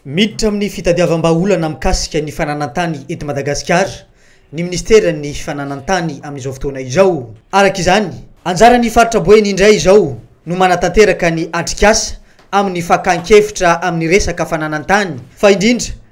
Miditra amin'ny fitadiavam-bahaolana mikasika ny fananan-tany eto Madagasikara ny Ministeran'ny Fananantany amin'izao fotoana izao. Araka izany, anjaran'ny Faritra Boeny indray izao no manatanteraka ny atrikasa amin'ny fakan-kevitra amin'ny resaka fananantany fa indrindra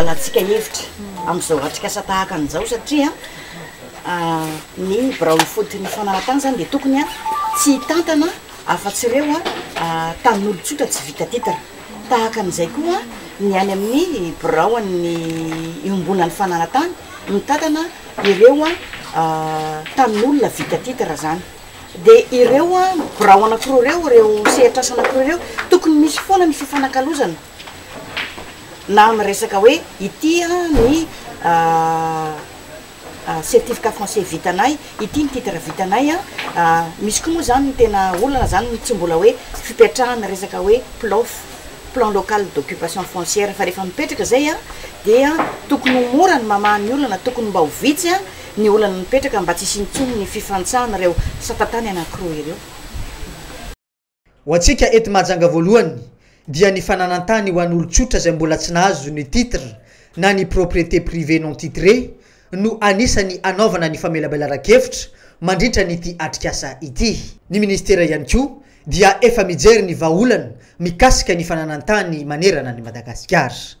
Ialàntsika hevitra amin'izao atrikasa tahaka an'izao satria ny birao ifotony fanaratany izany dia tokony tsy hitantana afa-tsy ireo tanin'olon-tsotra tsy vita titre. Tahaka an'izay koa ny any amin'ny biraon'ny iombonan'ny fanaratany mitantana ireo tanin'olona vita titre izany. Dia ireo birao anankiroa ireo, ireo sehatr'asa anankiroa ireo, tokony misy foana ny fifanakalozana. Na miresaka hoe ity ny certificat français vitanay, ity ny titre vitanay an, misy koa moa izany ny tena olana izany no tsy mbola hoe fipetrahana resaka hoe PLOF, plan local d'occupation foncière, fa rehefa mipetraka izay an, dia tokony ho mora ny mamaha ny olana, tokony mba ho vitsy ny olana mipetraka mba tsy hisian'ny intsony ny fifantsahana ireo sata-tany anankiroa ireo. Ho antsika eto Mahajanga voalohany dia ny fananan-tany ho an'olon-tsotra izay mbola tsy nahazo ny titre na ny propriété privée non titrée no anisan'ny anaovana ny famelabelaran-kevitra mandritra an'ity atrikasa ity. Ny Ministera ihany koa dia efa mijery ny vahaolana mikasika ny fananan-tany manerana an'i Madagasikara.